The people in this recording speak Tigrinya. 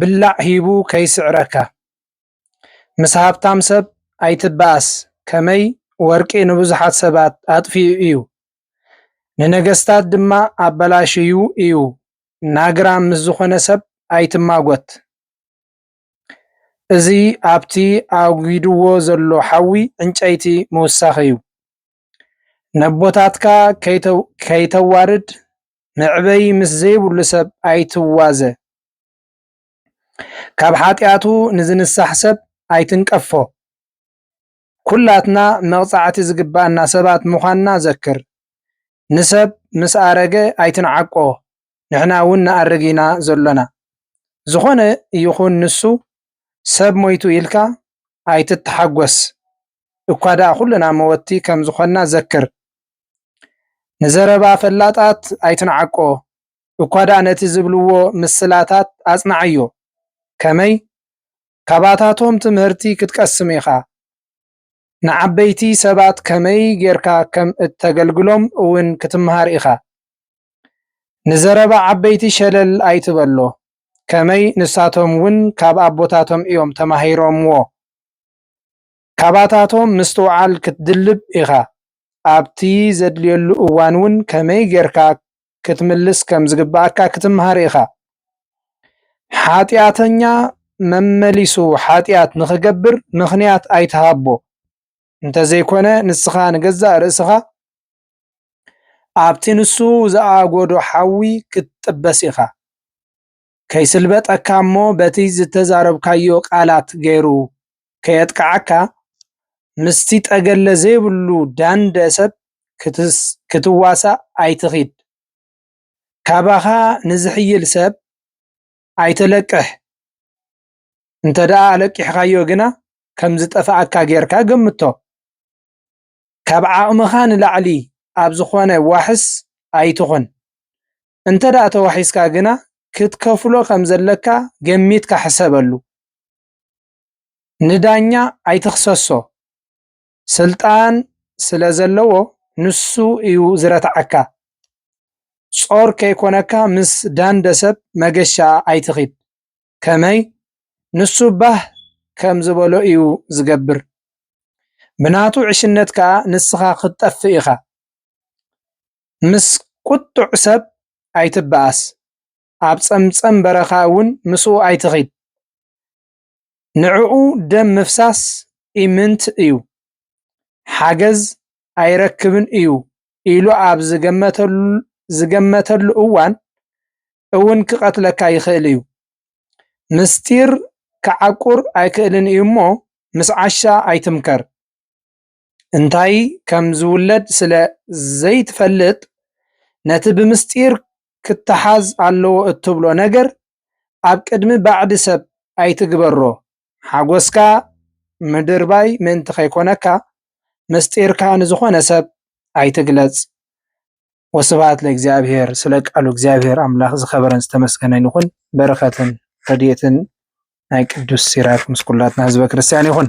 ብላዕ ሂቡ ከይስዕረካ ምስ ሃብታም ሰብ ኣይትበኣስ ከመይ ወርቂ ንብዙሓት ሰባት ኣጥፊኡ እዩ ንነገስታት ድማ ኣበላሽዩ እዩ ናግራም ምስ ዝኾነ ሰብ ኣይትማጎት እዚ ኣብቲ ኣጒድዎ ዘሎ ሓዊ ዕንጨይቲ ምውሳኽ እዩ። ነቦታትካ ከይተዋርድ መዕበዪ ምስ ዘይብሉ ሰብ ኣይትዋዘ። ካብ ሓጢኣቱ ንዝንሳሕ ሰብ ኣይትንቀፎ። ኩላትና መቕጻዕቲ ዝግብኣና ሰባት ምዃንና ዘክር። ንሰብ ምስ ኣረገ ኣይትንዓቆ፣ ንሕና እውን ንኣርግ ኢና ዘሎና። ዝኾነ ይኹን ንሱ፣ ሰብ ሞይቱ ኢልካ ኣይትተሓጎስ። እኳ ደኣ ኩልና መወቲ ከም ዝኾንና ዘክር። ንዘረባ ፈላጣት ኣይትንዓቆ፣ እኳ ደኣ ነቲ ዝብልዎ ምስላታት ኣጽንዓዮ። ከመይ? ካባታቶም ትምህርቲ ክትቀስም ኢኻ። ንዓበይቲ ሰባት ከመይ ጌርካ ከም እተገልግሎም እውን ክትመሃር ኢኻ። ንዘረባ ዓበይቲ ሸለል ኣይትበሎ፣ ከመይ ንሳቶም እውን ካብ ኣቦታቶም እዮም ተማሂሮምዎ። ካባታቶም ምስትውዓል ክትድልብ ኢኻ። ኣብቲ ዘድልየሉ እዋን እውን ከመይ ጌርካ ክትምልስ ከም ዝግብኣካ ክትምሃር ኢኻ። ሓጢኣተኛ መመሊሱ ሓጢኣት ንኽገብር ምኽንያት ኣይትሃቦ፣ እንተ ዘይኰነ ንስኻ ንገዛእ ርእስኻ ኣብቲ ንሱ ዝኣጐዶ ሓዊ ክትጥበስ ኢኻ። ከይስልበጠካ እሞ በቲ ዝተዛረብካዮ ቃላት ገይሩ ከየጥቅዓካ ምስቲ ጠገለ ዘይብሉ ዳንደ ሰብ ክትዋሳእ ኣይትኺድ። ካባኻ ንዝሕይል ሰብ ኣይተለቅሕ፣ እንተድኣ ኣለቂሕኻዮ ግና ከም ዝጠፍኣካ ገይርካ ገምቶ። ካብ ዓቕምኻ ንላዕሊ ኣብ ዝኾነ ዋሕስ ኣይትኹን። እንተድኣ ተዋሒስካ ግና ክትከፍሎ ከም ዘለካ ገሚትካ ሕሰበሉ። ንዳኛ ኣይትኽሰሶ፣ ስልጣን ስለ ዘለዎ ንሱ እዩ ዝረትዓካ። ጾር ከይኮነካ ምስ ዳንደ ሰብ መገሻ ኣይትኺድ። ከመይ? ንሱ ባህ ከም ዝበሎ እዩ ዝገብር። ብናቱ ዕሽነት ከኣ ንስኻ ክትጠፍእ ኢኻ። ምስ ቍጡዕ ሰብ ኣይትበኣስ፣ ኣብ ጸምጸም በረኻ እውን ምስኡ ኣይትኺድ። ንዕኡ ደም ምፍሳስ ኢምንት እዩ፣ ሓገዝ ኣይረክብን እዩ ኢሉ ኣብ ዝገመተሉ እዋን እውን ክቐትለካ ይኽእል እዩ። ምስጢር ክዓቍር ኣይክእልን እዩ እሞ ምስ ዓሻ ኣይትምከር። እንታይ ከም ዝውለድ ስለ ዘይትፈልጥ ነቲ ብምስጢር ክተሓዝ ኣለዎ እትብሎ ነገር ኣብ ቅድሚ ባዕዲ ሰብ ኣይትግበሮ። ሓጎስካ ምድርባይ ምእንቲ ከይኮነካ ምስጢርካ ንዝኾነ ሰብ ኣይትግለጽ። ወስብሃት ለእግዚኣብሔር ስለ ቃሉ እግዚኣብሔር ኣምላኽ ዝከበረን ዝተመስገነን ይኹን በረከትን ረድኤትን ናይ ቅዱስ ሲራክ ምስ ኩላትና ህዝበ ክርስቲያን ይኹን።